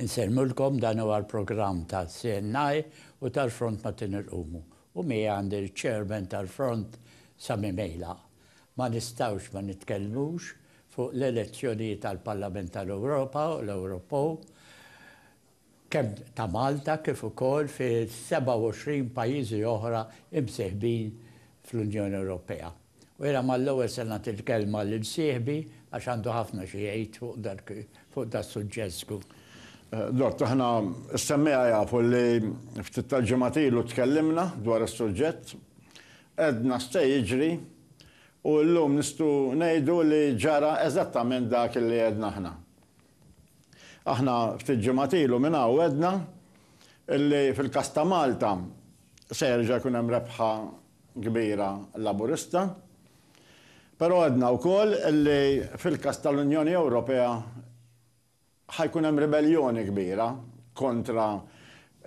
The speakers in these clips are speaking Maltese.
Insellmulkom, dan huwa l-programm tal-CNI u tal-Front Matin Irqumu, u miegħi għandi l-Chairman tal-Front Sami Mejla. Ma nistgħux ma nitkellmux fuq l-elezzjonijiet għall-Parlament tal-Ewropa u l-Ewropew, kemm ta' Malta kif ukoll fi 27 pajjiżi oħra imsieħbin fl-Unjoni Ewropea. U jiena mal-ewwel se nagħti l-kelma lil sieħbi għax għandu ħafna xi jgħid fuq das-suġġett żgur. Dott, aħna s-semmiegħa jafu li ftit tal-ġimgħat ilu tkellimna dwar is-suġġett, għedna x'se jiġri u llum nistgħu ngħidu li ġara eżattament dak li għedna aħna. Aħna ftit ġimgħat ilu minn hawn għedna li fil-każ ta' Malta se jerġa' jkun hemm rebħa kbira Laburista, però għedna wkoll li fil-każ tal-Unjoni Ewropea ħa jkun hemm ribelljoni kbira kontra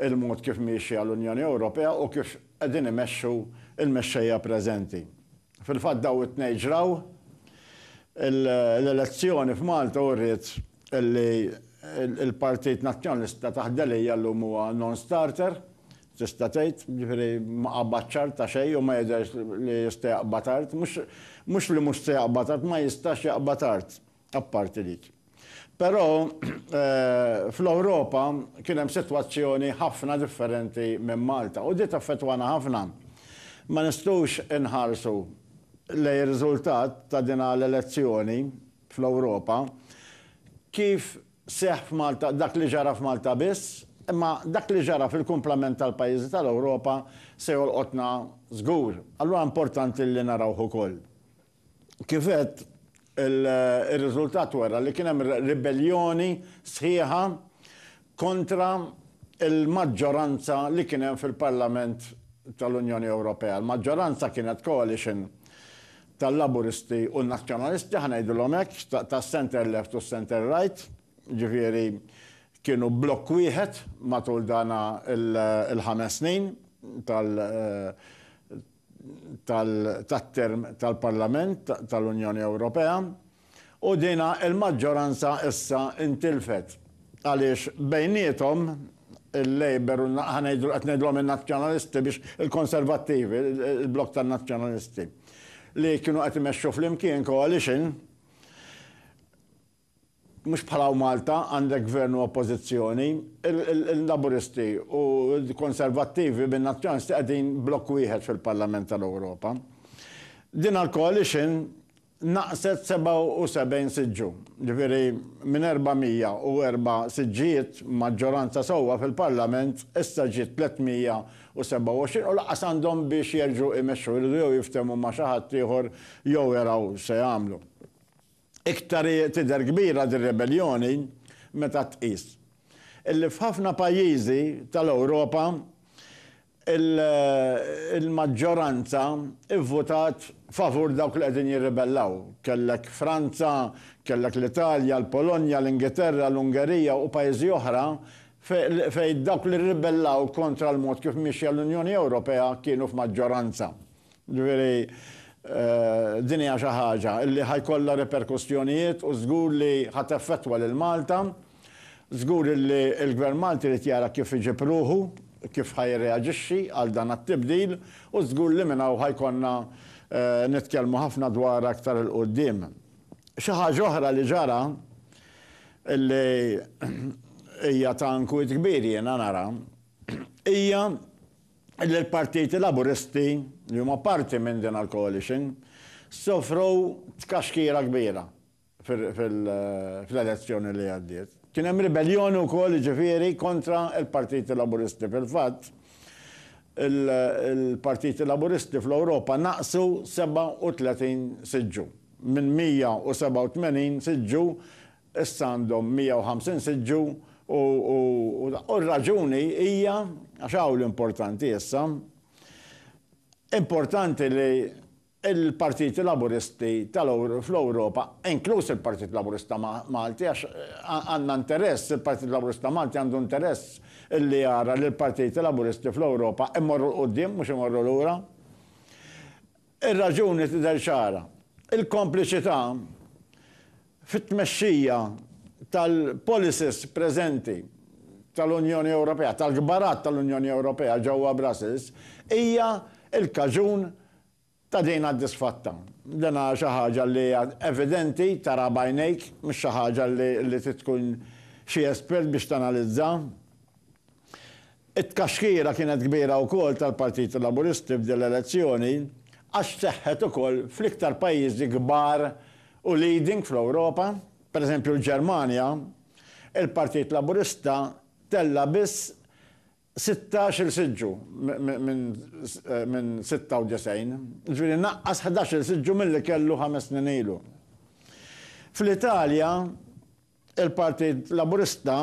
l-mod kif miexja l-Unjoni Ewropea u kif qegħdin imexxu l-mexxejja preżenti. Fil-fatt dawn it-tnejn ġraw. L-elezzjoni f'Malta wriet li l-Partit Nazzjonalista taħt Delia llum huwa non-starter, tista' tgħid, jiġifieri ma qabad x'art ta' xejn u ma jidhirx li jista' jaqbad art. Mhux li mhux se jaqbad art, ma jistax jaqbad art. apparti dik. Però fl-Ewropa kien hemm sitwazzjoni ħafna differenti minn Malta u di taffettwana ħafna. Ma nistgħux inħarsu lejn ir-riżultat ta' din l-elezzjoni fl-Ewropa kif seħħ f'Malta, dak li ġara f'Malta biss, imma dak li ġara fil-kumplament tal-pajjiżi tal-Ewropa se jolqotna żgur. Allura importanti li narawh ukoll. Kif għedt, ir-riżultat wera li kien hemm ribelljoni sħiħa kontra l-maġġoranza li kien hemm fil-Parlament tal-Unjoni Ewropea. Il-maġġoranza kienet coalition tal-Laburisti u n-Nazzjonalisti, ħa ngħidilhom hekk, tas-centre left u s-centre right, jiġifieri kienu blokk wieħed matul dan il-ħames snin tal- tat-term tal-Parlament tal-Unjoni Ewropea u din il-maġġoranza issa ntilfet għaliex bejniethom il-Labour u ħa ngħidu qed ngħidulhom in-Nazzjonalisti biex il-Konservattivi, il-blokk tan-Nazzjonalisti li kienu qed imexxu flimkien coalition Mhux bħala u Malta għandek Gvern u Oppożizzjoni. Il-Laburisti u l-Konservattivi bin-Nazzjonalisti qegħdin blokk wieħed fil-Parlament tal-Ewropa. Din l-coalition naqqset 77 siġġu, ġifieri minn 404 siġġijiet, maġġoranza sewwa fil-Parlament, issa ġiet 327 u lanqas għandhom biex jerġgħu jmexxu, iridu jew jiftehmu ma' xi ħadd ieħor jew jaraw x'se jagħmlu. Iktar hi tidher kbira dir-rebelljoni meta tqis illi f'ħafna pajjiżi tal-Ewropa l-maġġoranza vvutat favur dawk li qegħdin jirribellaw. Kellek Franza, kellek l-Italja, l-Polonja, l-Ingilterra, l-Ungerija u pajjiżi oħra fejn dawk li rribellaw kontra l-mod kif miexja l-Unjoni Ewropea kienu f'maġġoranza. Jiġifieri, din hija xi ħaġa li ħa jkollha riperkussjonijiet u żgur li ħa teffettwa lil Malta. Żgur li l-Gvern Malti jrid jara kif iġib ruħu, kif ħa jirreaġixxi għal dan għat-tibdil u żgur li minn hawn ħa jkollna nitkellmu ħafna dwarha aktar 'il quddiem. Xi ħaġa oħra li ġara li hija ta' inkwiet kbir jiena nara hija l-Partiti Laburisti li huma parti minn din il-coalition sofru tkaxkira kbira fl-elezzjoni li għaddiet. Kien hemm ribelljoni wkoll jiġifieri kontra l-Partiti Laburisti. Fil-fatt, il-Partiti Laburisti fl-Ewropa naqsu 37 siġġu, minn 187 siġġu Issa għandhom 150 siġġu u r-raġuni hija, għax hawn l-importanti issa, importanti li l-partiti Laburisti fl-Ewropa, inkluż il-Partit Laburista Malti, għax għandna interess, il-Partit Laburista Malti għandu interess li jara li l-partiti Laburisti fl-Ewropa jmorru 'l quddiem mhux imorru lura. Ir-raġuni tidher ċara, il-kompliċità fit-tmexxija tal-policies preżenti tal-Unjoni Ewropea, tal-kbarat tal-Unjoni Ewropea ġewwa Brussels, hija l-kaġun ta' din għad-disfatta. Din hija xi ħaġa li hija evidenti, taraha b'għajnejk, mhux xi ħaġa li trid tkun xi espert biex tanalizza. It-tkaxkira kienet kbira wkoll tal-Partit Laburisti f'din l-elezzjoni għax seħħet ukoll fl-iktar pajjiżi kbar u leading fl-Ewropa, pereżempju l-Ġermanja, il-Partit Laburista tella' biss sittax-il siġġu minn sitta u disgħin, jiġifieri naqqas ħdax-il siġġu milli kellu ħames snin ilu. Fl-Italja, Il-Partit Laburista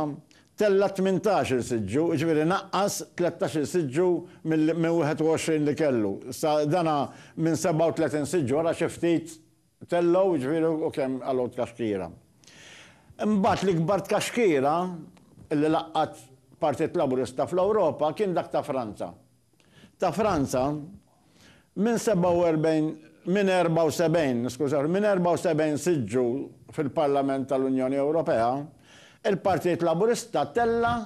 tella' tmintax-il siġġu, jiġifieri naqqas tlettax-il siġġu minn 21 li kellu. Issa dan minn 37 siġġu ara xi ftit tellgħu, jiġifieri u kemm għalgħu tkaxkira. Imbagħad l-ikbar tkaxkira li laqgħet Partit Laburista fl-Ewropa kien dak ta' Franza. Ta' Franza, Minn 47, minn 74, niskuża ruħi, minn 74 sitt ġu fil-Parlament tal-Unjoni Ewropea, il-Partit Laburista tella'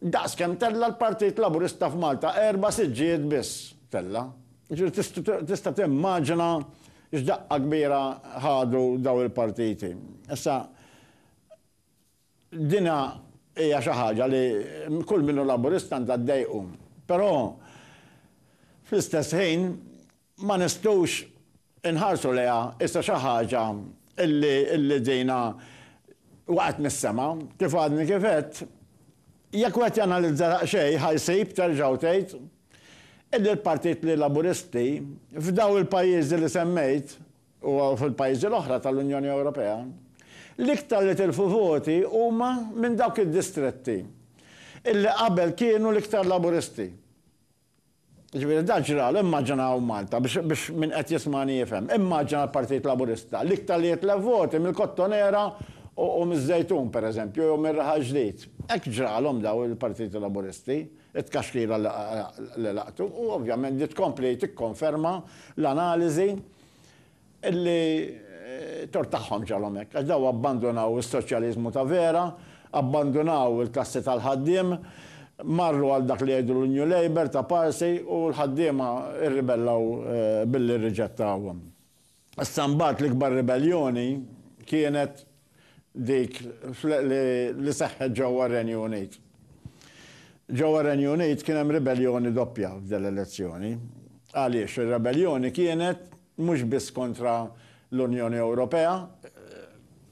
daqs kemm tella' l-Partit Laburista f'Malta, erba' siġġijiet biss tella'. Jiġifieri tista' timmaġina x'daqqa kbira ħadu dawn il-partiti. Issa, Din hija xi ħaġa li kull min hu Laburista għandha ddejqu. Però fl-istess ħin ma nistgħux inħarsu lejha issa xi ħaġa li dina waqgħet mis-sema. Kif għadni kif għedt, jekk wieħed janalizza daqsxejn ħa jsib, terġa' u tgħid, illi l-Partit li Laburisti f'daw il-pajjiżi li semmejt, u fil-pajjiżi l-oħra tal-Unjoni Ewropea, l-iktar li tilfu voti huma minn dawk id-distretti illi qabel kienu l-iktar Laburisti. Jiġifieri dan ġralu, immaġinaw Malta, biex biex min qed jismagħni jifhem, immaġina l-Partit Laburista l-iktar li jitlef voti mill-Kottonera u u miż-Żejtun pereżempju jew mir-Raħal Ġdid. Hekk ġralhom dawn il-Partiti Laburisti, it-tkaxkira li li laqtu u ovvjament din tkompli tikkonferma l-analiżi Illi tort tagħhom ġalhom hekk, għax dawn abbandunaw is-soċjaliżmu ta' vera, abbandunaw il-klassi tal-ħaddiem, marru għal dak li jgħidu l-New Labour ta' Parsi u l-ħaddiema rribellaw billi rriġettawhom. Issa mbagħad l-ikbar ribelljoni kienet dik li seħħet ġewwa r-Renju Unit. Ġewwa r-Renju Unit kien hemm ribelljoni doppja f'din l-elezzjoni. Għaliex? Ir-rebelljoni kienet mhux biss kontra l-Unjoni Ewropea,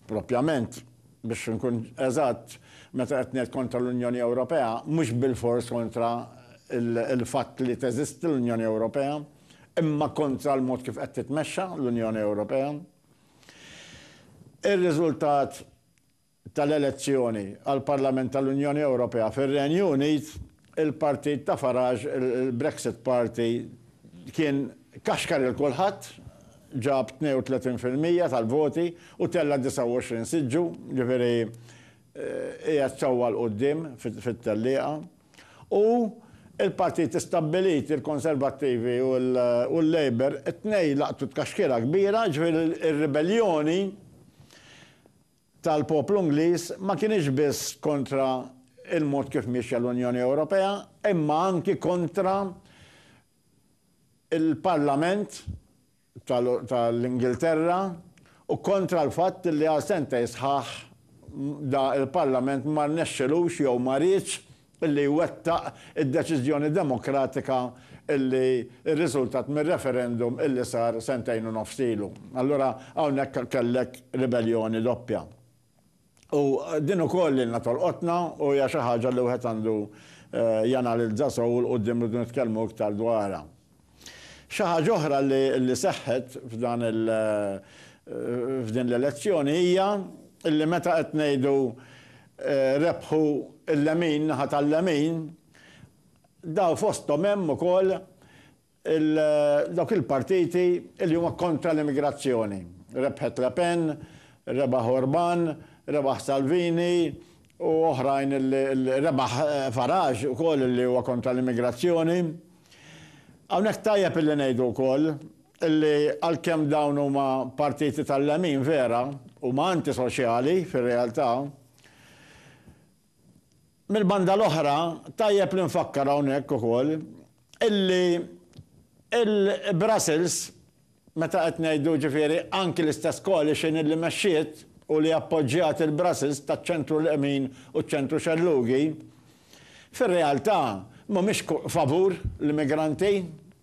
propjament, biex inkun eżatt, meta qed ngħid kontra l-Unjoni Ewropea, mhux bilfors kontra l-fatt li teżisti l-Unjoni Ewropea, imma kontra l-mod kif qed titmexxa l-Unjoni Ewropea. Ir-riżultat tal-elezzjoni għall-Parlament tal-Unjoni Ewropea fir-Renju Unit, il-partit ta' Farage, il-Brexit Party, kien kaxkar lil kulħadd, ġab 32 fil-mija tal-voti u tella' 29 siġġu, jiġifieri qiegħed sewwa 'l quddiem fit-tellieqa. U l-partiti stabbiliti, il-Konservattivi u l-Labour, it-tnejn laqtu tkaxkira kbira, ġifieri r-ribelljoni tal-poplu Ingliż ma kinitx biss kontra l-mod kif miexja l-Unjoni Ewropea, imma anki kontra l-Parlament tal-Ingilterra u kontra l-fatt li għal sentejn sħaħ da l-Parlament ma rnexxilux jew ma riedx li jwettaq id-deċiżjoni demokratika li rriżultat mir-referendum li sar sentejn u nofs ilu. Allura hawnhekk kellek ribelljoni doppja. U din ukoll lilna tolqotna u hija xi ħaġa li wieħed għandu janalizza sew u 'l quddiem irridu nitkellmu iktar dwarha. Xi ħaġa oħra li seħħet f'dan il f'din l-elezzjoni hija li meta qed ngħidu rebħu l-lemin, naħa tal-lemin, daw fosthom hemm ukoll Dawk il-partiti li huma kontra l-immigrazzjoni. Rebħet Le Pen, rebaħ Orban, rebaħ Salvini u oħrajn li, rebaħ Farage ukoll li huwa kontra l-immigrazzjoni. Hawnhekk tajjeb illi ngħidu wkoll illi għalkemm dawn huma partiti tal-lemin vera, huma antisoċjali fir-realtà. Mill-banda l-oħra, tajjeb li nfakkar hawnhekk ukoll illi il-Brussels, meta qed ngħidu ġifieri anki l-istess coalition illi mexxiet u li appoġġjat il-Brussels taċ-ċentru lemin u ċ-ċentru xellugi, fir-realtà mhumiex favur l-immigranti.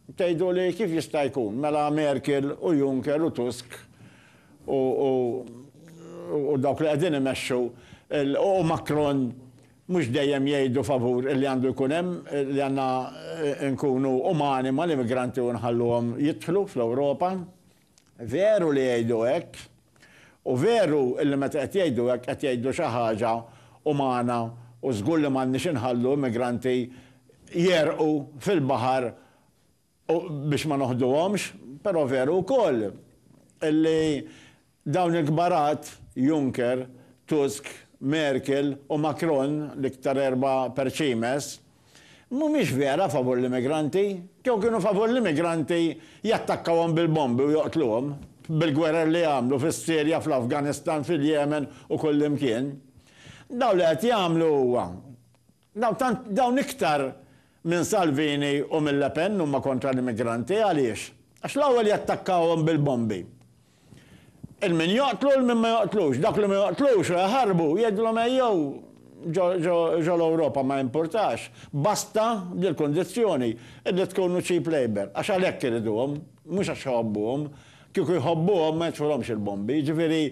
Tgħiduli kif jista' jkun mela Merkel u Juncker u Tusk u dawk li qegħdin imexxu u Macron mhux dejjem jgħidu favur li għandu jkun hemm li għandna nkunu umani mal-immigranti u nħalluhom jidħlu fl-Ewropa. Veru li jgħidu hekk. U veru li meta qed jgħidu hekk qed jgħidu xi ħaġa umana u żgur li m'għandniex inħallu immigranti jegħrqu fil-baħar u biex ma noħduhomx, però veru wkoll li dawn il-kbarat, Juncker, Tusk, Merkel u Macron, l-iktar erbgħa perċimes, mhumiex vera favur l-immigranti. Kieku kienu favur l-immigranti jattakkawhom bil-bombi u joqtluhom, bil-gwerer li għamlu fis-Sirja, fl-Afganistan, fil-Jemen u kullimkien. Dawn li qed jagħmlu huwa Dawn tant, dawn iktar minn Salvini u minn Le Pen huma kontra l-immigranti. Għaliex? Għax l-ewwel jattakkawhom bil-bombi. Il-min joqtlu, il-min ma joqtlux. Dawk li ma joqtlux u jaħarbu, jgħidilhom ejjew ġo, ġo, ġo l-Ewropa ma jimpurtax. Basta b'dil-kundizzjoni, illi tkunu cheap labour. Għax għalhekk iriduhom, mhux għax iħobbuhom. Kieku jħobbuhom ma jitfulhomx il-bombi. Jiġifieri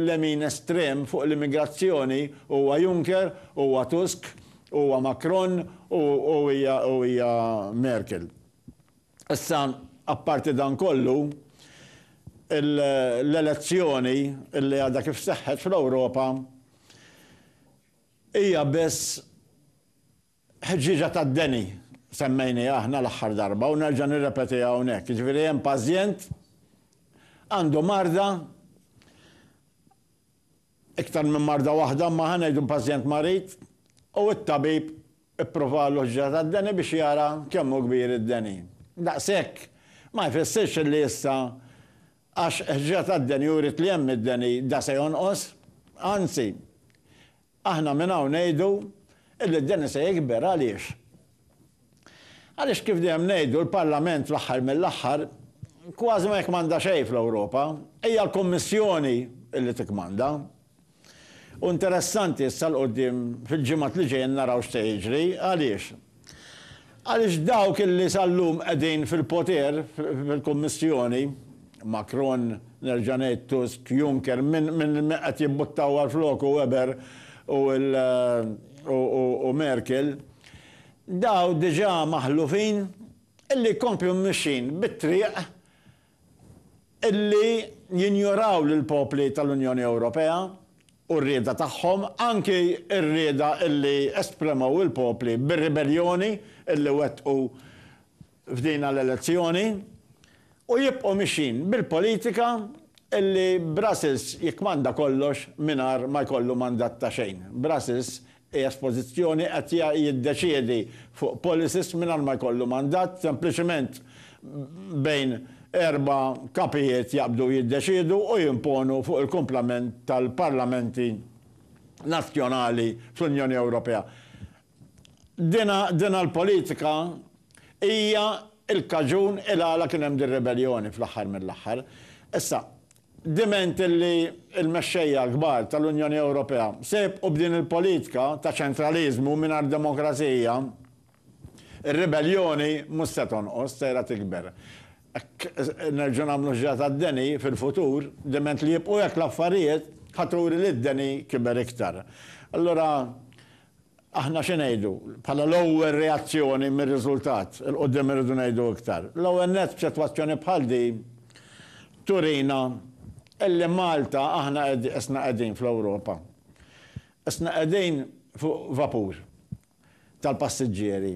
lemin estrem fuq l-immigrazzjoni huwa Juncker, huwa Tusk, huwa Macron u u hija Merkel. Issa apparti dan kollu, l-elezzjoni li għadha kif seħħet fl-Ewropa hija biss Ħġieġa tad-deni semmejniha aħna l-aħħar darba u nerġa' nirrepetiha hawnhekk. Jiġifieri hemm pażjent għandu marda, iktar minn marda waħda, imma ħa ngħidu pażjent marid, u t-tabib ippruvalu ħġieġa tad-deni biex jara kemm hu kbir id-deni. Daqshekk ma jfissirx li issa għax ħġieġa tad-deni uriet li hemm id-deni da se jonqos. Anzi, Aħna minn hawn ngħidu illi d-deni se jikber. Għaliex? Għaliex kif dejjem ngħidu l-Parlament fl-aħħar mill-aħħar kważi ma jikkmanda xejn fl-Ewropa. Hija l-Kummissjoni illi tikkmanda. U interessanti issa 'l quddiem fil-ġimgħat li ġejjin naraw x'se jiġri. Għaliex? Għaliex dawk illi sal-lum qegħdin fil-poter, fil-Kummissjoni, Macron, nerġa' ngħid Tusk, Juncker, min qed jimbuttaw għal floku Weber u Merkel, dawn diġà maħlufin illi jkomplu mmixxin bit-triq li jinjoraw lill-popli tal-Unjoni Ewropea u r-rieda tagħhom, anki r-rieda li espremew il-popli bir-ribelljoni li wettqu f'dina l-elezzjoni, u jibqgħu mixjin bil-politika li Brussels jikkmanda kollox mingħajr ma jkollu mandat ta' xejn. Brussels Qiegħed f'pożizzjoni qed jiddeċiedi fuq policies mingħajr ma jkollu mandat, sempliċement bejn erba' kapijiet jaqbdu jiddeċiedu u jimponu fuq il-kumplament tal-parlamenti nazzjonali fl-Unjoni Ewropea. Dina, dina l-politika hija l-kaġun il-għala kien hemm din ribelljoni fl-aħħar mill-aħħar. Issa, diment li l-mexxejja l-kbar tal-Unjoni Ewropea se jibqgħu b'din il-politika ta' ċentraliżmu mingħajr demokrazija, ir-ribelljoni mhux se tonqos, sejra tikber. Hekk nerġgħu nagħmlu ħġa tad-deni fil-futur, diment li jibqgħu hekk l-affarijiet, ħa turi li d-deni kiber iktar. Allura, Aħna xi ngħidu? Bħala l-ewwel reazzjoni mir-riżultat, 'il quddiem irridu ngħidu iktar. L-ewwel nett f'sitwazzjoni bħal din turina illi Malta aħna isna qegħdin fl-Ewropa. Isna qegħdin fuq vapur tal-passiġġieri.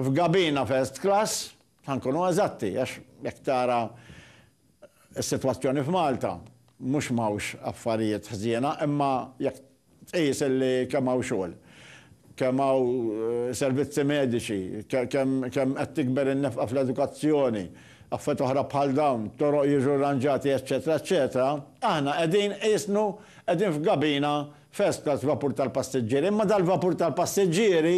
F'gabina first class. Ħa nkunu eżatti, għax jekk tara s-sitwazzjoni f'Malta, mhux m'hawnx affarijiet ħżiena, imma jekk tqis li kemm hawn xogħol, kemm hawn servizzi mediċi, kemm qed tikber in-nefqa fl-edukazzjoni, affarijiet oħra bħal dawn, toroq jiġu rranġati, eċċetera, eċċetera, aħna qegħdin qisnu qegħdin f'gabina first class f'vapur tal-passiġġieri. Imma dal-vapur tal-passiġġieri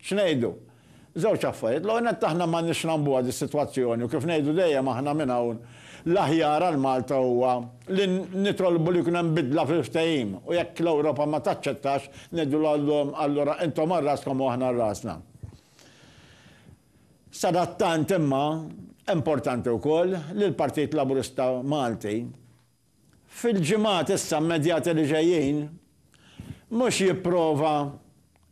X'ngħidu? Żewġ affarijiet. L-ewwel nett aħna m'għandniex nagħmbuha dis-sitwazzjoni u kif ngħidu dejjem aħna minn hawn, l-aħjar għal Malta huwa li nitolbu li jkun hemm bidla fil-ftehim u jekk l-Ewropa ma taċċettax, ngħidulhom allura intom għal raskom u aħna għal rasna. Sadattant imma, importanti wkoll li l-Partit Laburista Malti fil-ġimgħat issa immedjati li ġejjin, mhux jipprova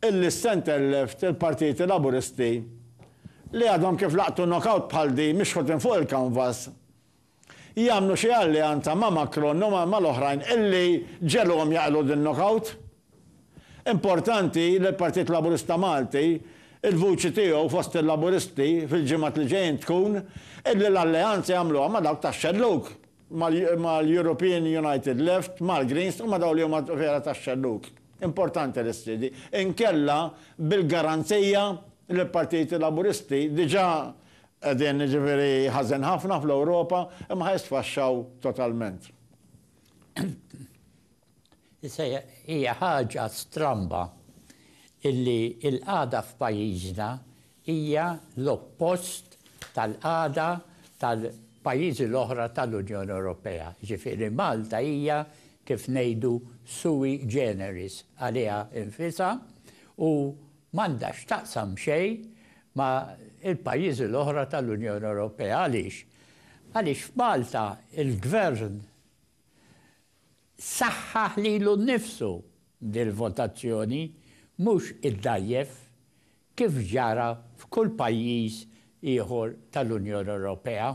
illi stand and left il-partiti Laburisti li għadhom kif laqtu knock-out bħal din mixħutin fuq il-kanvas, jagħmlu xi alleanza ma' Macron u mal-oħrajn illi ġegħluhom jaqilgħu din knock-out. Importanti li l-Partit Laburista Malti, il-vuċi tiegħu fost il-Laburisti fil-ġimgħat li ġejjin tkun illi l-alleanza jagħmluha ma' dawk tax-xellug, mal-European United Left, mal-Greens u ma' dawk li huma vera tax-xellug. Importanti li ssir di. Inkella bil-garanzija li l-Partiti Laburisti diġà qegħdin jiġifieri ħażen ħafna fl-Ewropa imma ħa jisfaxxaw totalment. Issa hija ħaġa stramba illi l-qagħda f'pajjiżna hija l-oppost tal-qagħda tal-pajjiżi l-oħra tal-Unjoni Ewropea. Jiġifieri Malta hija kif ngħidu sui generis għaliha nfisha u m'għandha x'taqsam xejn ma' l-pajjiżi l-oħra tal-Unjoni Ewropea. Għaliex? Għaliex f'Malta l-Gvern Saħħaħ lilu nnifsu dil-votazzjoni, mhux iddgħajjef, kif ġara f'kull pajjiż ieħor tal-Unjoni Ewropea.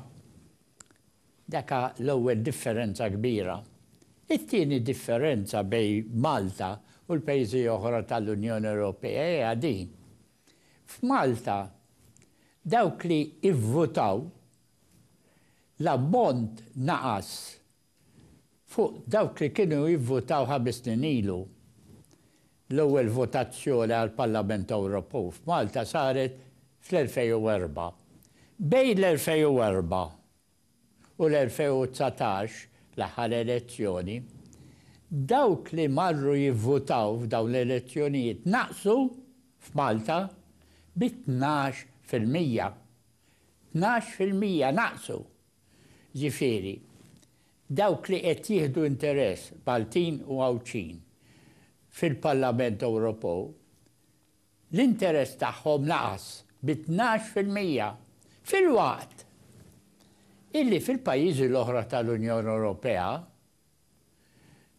Daka l-ewwel differenza kbira. It-tieni differenza bejn Malta u l-pajjiżi oħra tal-Unjoni Ewropea hija din, f'Malta dawk li ivvutaw l-ammont naqas Fuq dawk li kienu jivvutaw ħames snin ilu, l-ewwel votazzjoni għall-Parlament Ewropew f'Malta saret fl-2004. Bejn l-2004 u l-2019, l-aħħar elezzjoni, dawk li marru jivvutaw f'dawn l-elezzjonijiet naqsu f'Malta bi tnax fil-mija. Tnax fil-mija naqsu Jiġifieri, dawk li qed jieħdu interess Maltin u Għawdxin fil-Parlament Ewropew, l-interess tagħhom naqas bi tnax fil-mija, filwaqt illi fil-pajjiżi l-oħra tal-Unjoni Ewropea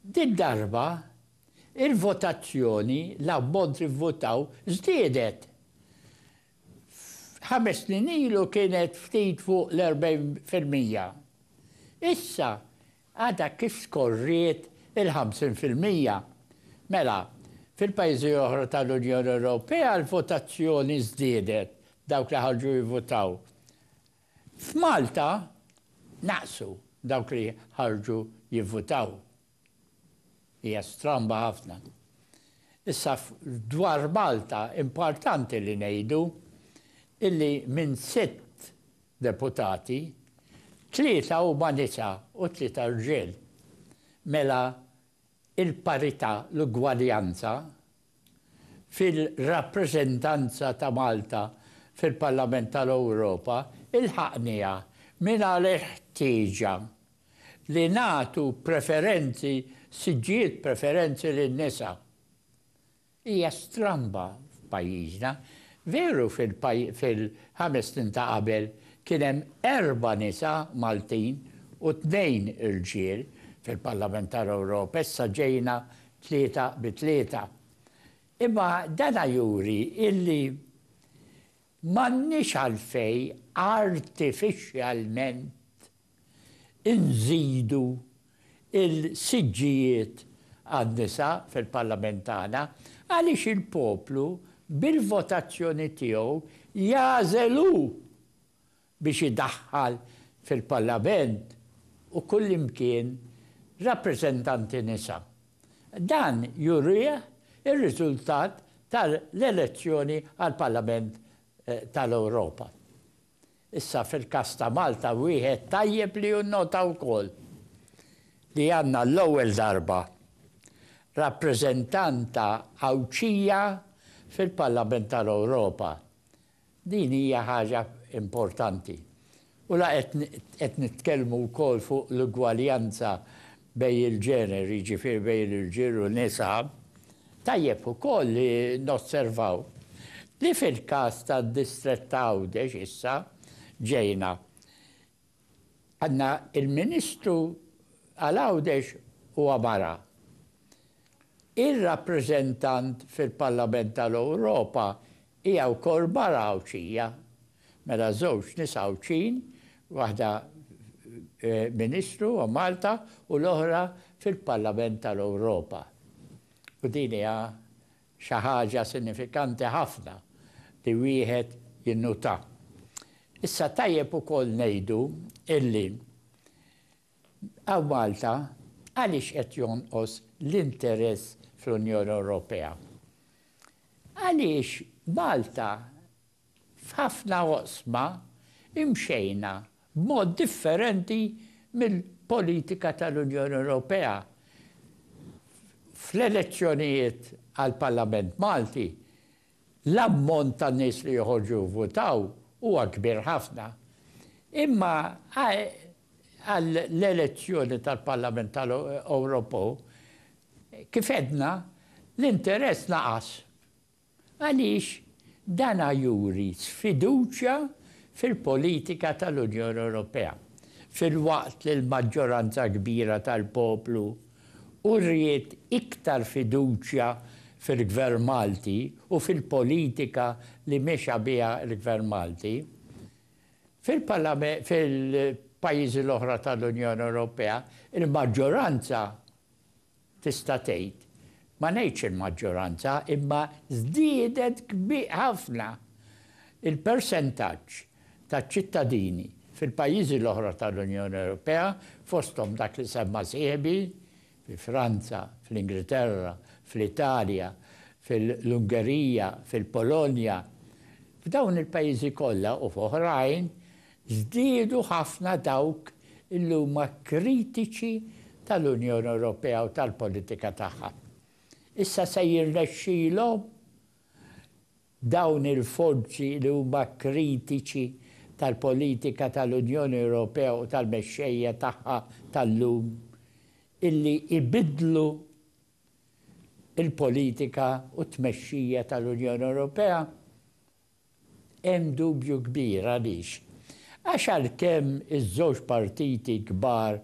Did-darba, il-votazzjoni, l-ammont li vvutaw, żdiedet. Ħames snin ilu kienet ftit fuq l-40 fil-mija. Issa għadha kif skorriet il-50 fil-mija. Mela, fil-pajjiżi oħra tal-Unjoni Ewropea l-votazzjoni żdiedet, dawk li ħarġu jivvutaw. F'Malta naqsu dawk li ħarġu jivvutaw. Hija stramba ħafna. Issa dwar Malta importanti li ngħidu illi minn sitt deputati, tlieta huma nisa u tlieta rġiel. Mela il-parità, l-ugwaljanza fil-rappreżentanza ta' Malta fil-Parlament tal-Ewropa lħaqniha mingħajr ħtieġa li nagħtu preferenzi, siġġijiet preferenzi lin-nisa. Hija stramba f'pajjiżna. Veru fil-ħames snin ta' qabel kien hemm erba' nisa Maltin u tnejn irġiel fil-Parlament tal-Ewropa, issa ġejna tlieta bi tlieta. Imma dana juri illi m'għandniex għalfejn artifiċjalment inżidu l-siġġijiet għan-nisa fil-Parlament tagħna għaliex il-poplu bil-votazzjoni tiegħu jagħżel hu biex idaħħal fil-Parlament u kullimkien rappreżentanti nisa. Dan jurih ir-riżultat tal-elezzjoni għall-Parlament tal-Ewropa. Issa fil-każ ta' Malta wieħed tajjeb li jinnota wkoll li għandna għall-ewwel darba rappreżentanta Għawdxija fil-Parlament tal-Ewropa. Din hija ħaġa importanti. U la qed nitkellmu wkoll fuq l-ugwaljanza bejn il-ġeneri, jiġifieri bejn irġiel u nisa, tajjeb ukoll li nosservaw li fil-każ tad-distrett ta' Għawdex issa ġejna Għandna il-Ministru għal Għawdex huwa mara. Ir-rappreżentant fil-Parlament tal-Ewropa hija wkoll mara Għawdxija. Mela żewġ nisa Għawdxin, waħda Ministru għal Malta u l-oħra fil-Parlament tal-Ewropa. U din hija Xi ħaġa sinifikanti ħafna li wieħed jinnutà. Issa tajjeb ukoll ngħidu illi hawn Malta għaliex qed jonqos l-interess fl-Unjoni Ewropea? Għaliex Malta F'ħafna oqsma imxejna b'mod differenti mill-politika tal-Unjoni Ewropea. Fl-elezzjonijiet għall-Parlament Malti, l-ammont ta' nies li joħorġu jivvutaw huwa kbir ħafna. Imma għall-elezzjoni tal-Parlament tal-Ewropew, kif għedna, l-interess naqas. Għaliex dan juri sfiduċja fil-politika tal-Unjoni Ewropea, filwaqt li l-maġġoranza kbira tal-poplu wriet iktar fiduċja fil-Gvern Malti u fil-politika li mexa biha l-Gvern Malti. Fil-pajjiżi l-oħra tal-Unjoni Ewropea, il-maġġoranza Tista' tgħid, ma ngħidx il-maġġoranza, imma żdiedet ħafna il-persentaġġ taċ-ċittadini fil-pajjiżi l-oħra tal-Unjoni Ewropea, fosthom dak li semma sieħbi, fi Franza, fl-Ingilterra, fl-Italja, fil-Ungerija, fil-Polonja. F'dawn il-pajjiżi kollha u f'oħrajn, Żdiedu ħafna dawk li huma kritiċi tal-Unjoni Ewropea u tal-politika tagħha. Issa se jirnexxilhom dawn il-forzi li huma kritiċi tal-politika tal-Unjoni Ewropea u tal-mexxejja tagħha tal-lum illi jbiddlu l-politika u t-tmexxija tal-Unjoni Ewropea? Hemm dubju kbir, għaliex? Għax għalkemm iż-żewġ partiti kbar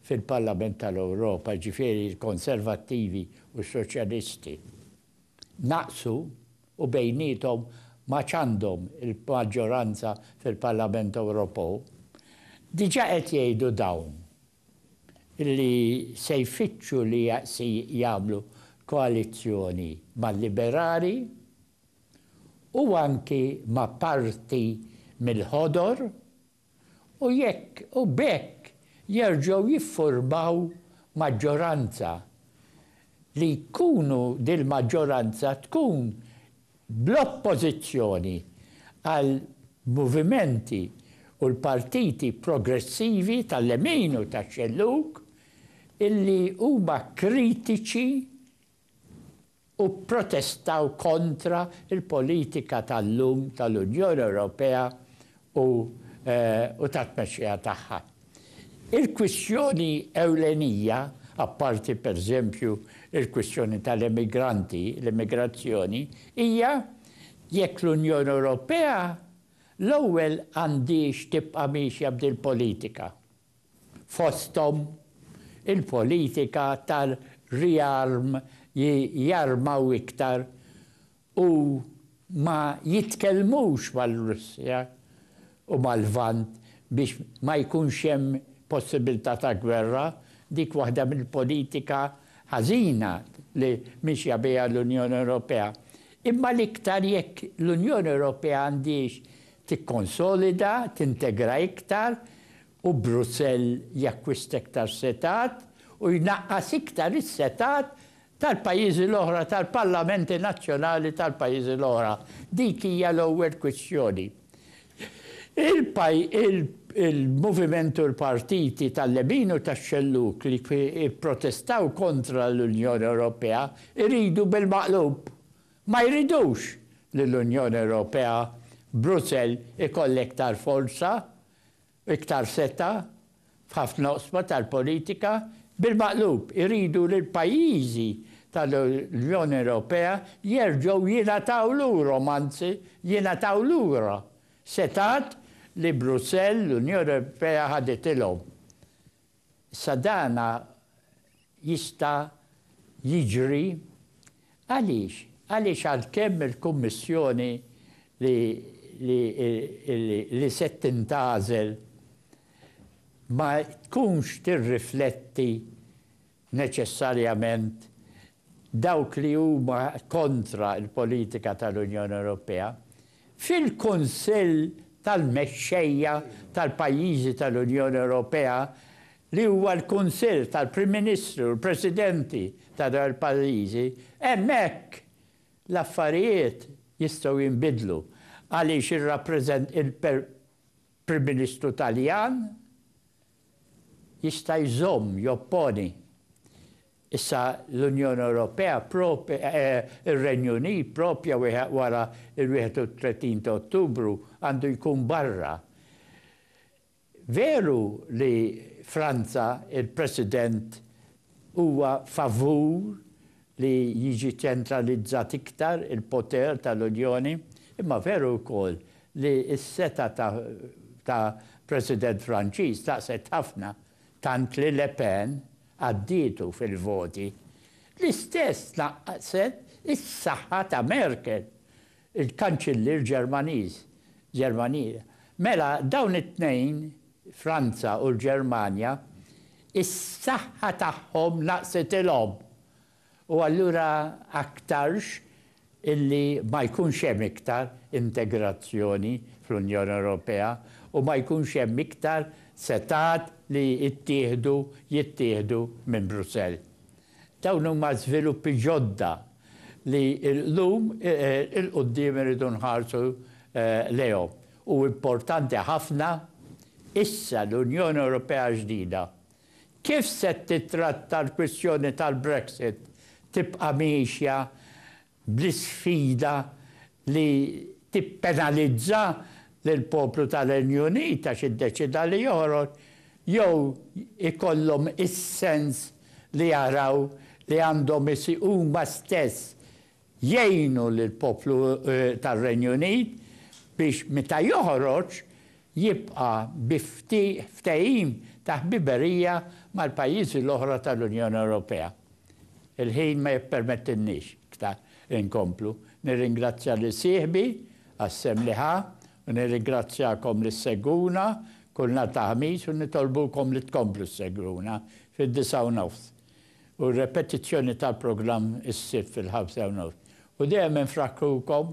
fil-Parlament tal-Ewropa, jiġifieri l-Konservattivi u s-Soċjalisti, naqsu u bejniethom m'għadx għandhom il-maġġoranza fil-Parlament Ewropew, diġà qed jgħidu dawn li se jfittxu li jagħmlu koalizzjoni mal-Liberali. u anki ma' parti mill-Ħodor u jekk u b'hekk jerġgħu jiffurmaw maġġoranza li jkunu dil-maġġoranza tkun bl-oppożizzjoni għal movimenti u l-partiti progressivi tal-lemin u tax-xellug illi huma kritiċi u pprotestaw kontra l-politika tal-lum tal-Unjoni Ewropea u tat-tmexxija tagħha. Il-kwistjoni ewlenija, apparti pereżempju l-kwistjoni tal-emigranti, l-immigrazzjoni, hija jekk l-Unjoni Ewropea l-ewwel għandhiex tibqa' miexja b'dil-politika. fosthom il-politika tar-riarm li jarmaw iktar u ma jitkellmux mar-Russja u mal-Lvant biex ma jkunx hemm possibilità ta' gwerra, dik waħda mill-politika ħażina li mixja biha l-Unjoni Ewropea. Imma l-iktar jekk l-Unjoni Ewropea għandhiex tikkonsolida, tintegra iktar u Brussell jakkwista iktar setgħat u jnaqqas iktar is-setgħat tal-pajjiżi l-oħra, tal-parlamenti nazzjonali tal-pajjiżi l-oħra. Dik hija l-ewwel kwistjoni. Il-moviment u l-partiti tal-lemin u tax-xellug li pprotestaw kontra l-Unjoni Ewropea jridu bil-maqlub. Ma jridux li l-Unjoni Ewropea, Brussell, ikollha iktar forza Iktar setgħa f'ħafna oqsma tal-politika bil-maqlub, iridu li l-pajjiżi tal-Unjoni Ewropea jerġgħu jingħataw lurhom, anzi jingħataw lura, setgħat li Brussell, l-Unjoni Ewropea ħaditilhom. Issa dan jista' jiġri għaliex? Għaliex għalkemm il-Kummissjoni li se tintgħażel ma tkunx tirrifletti neċessarjament dawk li huma kontra l-politika tal-Unjoni Ewropea, fil-Kunsill tal-Mexxejja tal-pajjiżi tal-Unjoni Ewropea li huwa l-Kunsill tal-Prim Ministri u l-Presidenti ta' dawn il-pajjiżi, hemmhekk l-affarijiet jistgħu jinbidlu għaliex il-Prim Ministru Taljan jista' jżomm, jopponi. Issa l-Unjoni Ewropea, ir-Renju Unit proprja wara l-31 ta' Ottubru għandu jkun barra. Veru li Franza, il-President huwa favur li jiġi ċentralizzat iktar il-poter tal-Unjoni, imma veru wkoll li s-setgħa ta' ta' President Franċiż tnaqqset ħafna, tant li Le Pen għaddietu fil-voti. L-istess tnaqqset is-saħħa ta' Merkel, il-Kanċillier Ġermaniż, Ġermanier. Mela, dawn it-tnejn, Franza u l-Ġermanja, is-saħħa tagħhom naqsitilhom. U allura aktarx illi ma jkunx hemm iktar integrazzjoni fl-Unjoni Ewropea u ma jkunx hemm iktar setgħat li jittieħdu, jittieħdu minn Brussell. Dawn huma żviluppi ġodda li llum 'il quddiem irridu nħarsu lejhom. U importanti ħafna, issa l-Unjoni Ewropea ġdida, kif se tittratta l-kwistjoni tal-Brexit tibqa' miexja bl-isfida li tippenalizza lill-poplu tar-Renju Unit għax iddeċieda li joħroġ, jew ikollhom is-sens li jaraw li għandhom huma stess jgħinu lill-poplu tar-Renju Unit biex meta joħroġ jibqa' bi ftehim ta' ħbiberija mal-pajjiżi l-oħra tal-Unjoni Ewropea. Il-ħin ma jippermettilniex iktar inkomplu. Nirringrazzja lil sieħbi għas-sehem li ħa u nirringrazzjakom li ssegwuna kull nhar ta' Ħamis u nitolbukom li tkomplu ssegwuna fid-disgħa u nofs u r-repetizzjoni tal-programm is-Sibt fil-ħamsa u nofs. U dejjem infrakkrukom